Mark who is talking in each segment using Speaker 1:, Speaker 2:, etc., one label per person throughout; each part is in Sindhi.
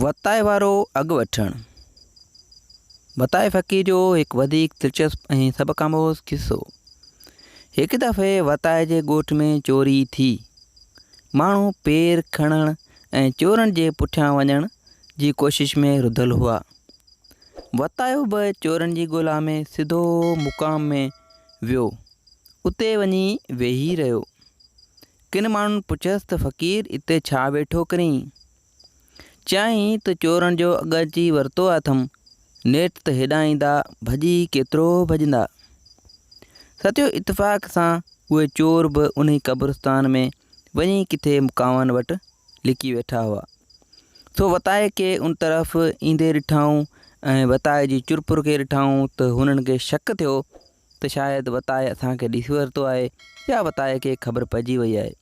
Speaker 1: وتايي وارو اڳ وٺڻ، وتايي فقير جو هڪ وڌيڪ دلچسپ ۽ سبق آموز قصو، هڪ دفعي وتايي جي ڳوٺ ۾ چوري ٿي، ماڻهو پير کڻڻ ۽ چورن جي پٺيان وڃڻ جي ڪوشش ۾ رڌل هئا، وتايو به چورن جي ڳولا ۾ سڌو مقام ۾ ويو، اتي وڃي ويهي رهيو، ڪن ماڻهن پڇيس ته فقير اتي ڇا ويٺو ڪرين؟ چيائين ته چورن جو اڳ اچي ورتو اٿم، نيٺ ته هيڏانهن ايندا ڀڄي ڪيترو ڀڄندا. ستيو اتفاق سان اهي چور به انهي قبرستان ۾ وڃي ڪٿي مڪاون وٽ لڪي ويٺا هئا. سو وتائي کي ان طرف ايندي ڏٺائون ۽ وتائي جي چرپر کي ڏٺائون ته هنن کي شڪ ٿيو ته شايد وتايي اسان کي ڏسي ورتو آهي يا وتايي کي خبر پئجي وئي آهي.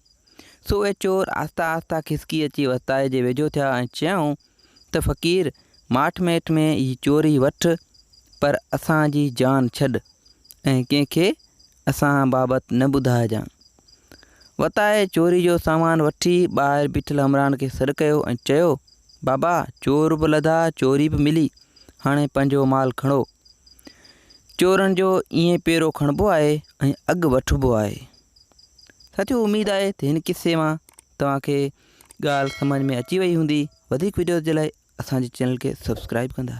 Speaker 1: سو اهي چور آهسته آهسته کسڪي اچي وتايي جي ويجهو ٿيا ۽ چيائون ته فقير ماٺ ميٺ ۾ هي چوري وٺ پر اسان جي جان ڇڏ ۽ ڪنهن کي اسان بابت نه ٻڌائجان. وتايي چوري جو سامان وٺي ٻاهر بيٺل همراهن کي سڏ ڪيو ۽ چيو بابا چور به لڌا چوري به ملي هاڻي پنهنجو مال کڻو چورن جو ائين پيرو کڻبو آهي ۽ اڳ وٺبو آهي ساٿيو اميد آهي ته هن قصي مان توهانکي ڳالهه سمجھ ۾ اچي وئي هوندي وڌيڪ ويڊيوز جي لاء اسان جي چينل کي سبسڪرائب ڪندا